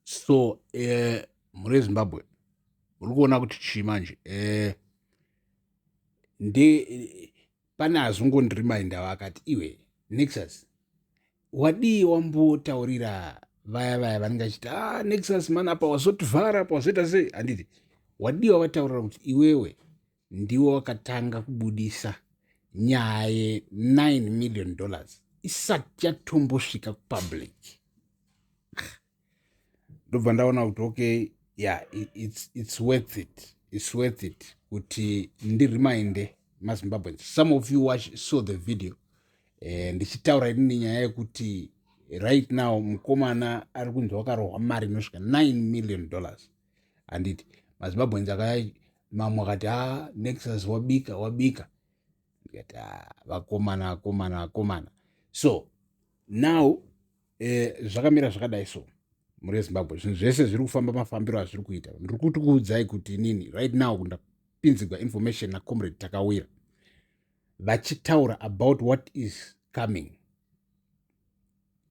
so eh, mhuri yezimbabwe muri kuona kuti chii manje eh, ndi pane azungondirimainda vakati iwe nexus wadii wambotaurira vaya vaya vanenge achiti a ah, nexus mana apa wazotivhara apa wazoita sei handiti wadii wavataurira kuti iwewe ndiwo wakatanga kubudisa nyaya ye9 million dollars isati yatombosvika kupublic ndobva ndaona kuti okay yeah it's, it's worth it it's worth it kuti ndiriminder mazimbabweans some of you watch, saw the video eh, ndichitaura uh, inini nyaya yekuti right now mukomana ari kunzi wakarohwa mari inosvika 9 million dollars handiti mazimbabweans aka mamwe akati a ah, nexus wabika wabika ndikati a ah, vakomana vakomana vakomana so now eh, zvakamira zvakadai so mhuri yezimbabwe zvinhu zvese zviri kufamba mafambiro azviri kuita ndiri kuti kuudzai kuti inini right now ndapinzigwa information nacomrade takawira vachitaura about what is coming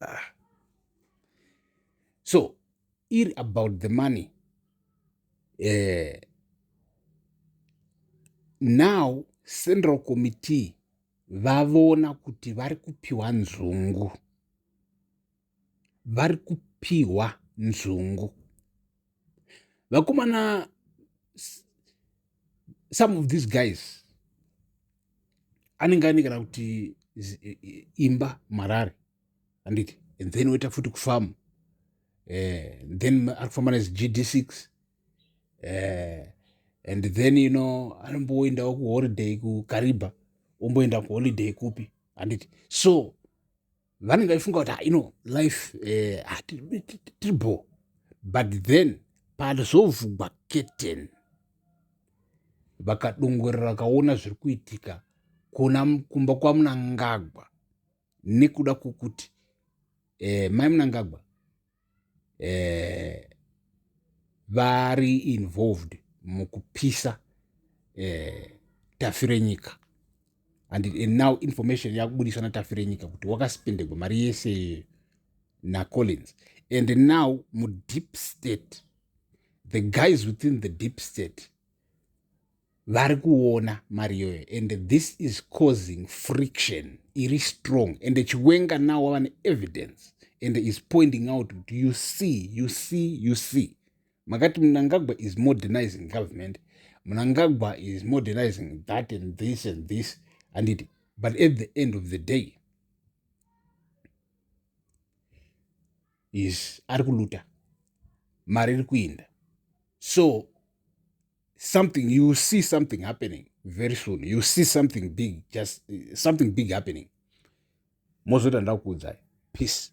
ah. so iri about the money eh, now central committee vavona kuti vari kupiwa nzungu vari kupiwa nzungu vakomana some of these guys anenge ane kana kuti imba marare anditi and then woita futi kufamu eh, then ari kufamba nezigd six eh, and then you know anomboendawo kuholiday kukariba omboenda kuholiday kupi handiti so vanenge vaifunga kuti ah, ino life eh, ah, tiri bo but then pazovhugwa keten vakadongorera vakaona zviri kuitika kuna kumba kwamunangagwa nekuda kwokuti eh, mai munangagwa eh, vari involved mukupisa eh, tafirenyika and, and now information yakubudiswa natafirenyika kuti wakaspendegwa mari yese nacollins and now mudeep state the guys within the deep state vari kuona mari iyoyo and this is causing friction iri strong and chiwenga now wava neevidence and is pointing out kuti you see you see you see makati munangagwa is modernizing government munangagwa is modernizing that and this and this handiti but at the end of the day is ari kuluta mari iri kuinda so something you see something happening very soon you see something big just uh, something big happening mozoita ndakuudzai peace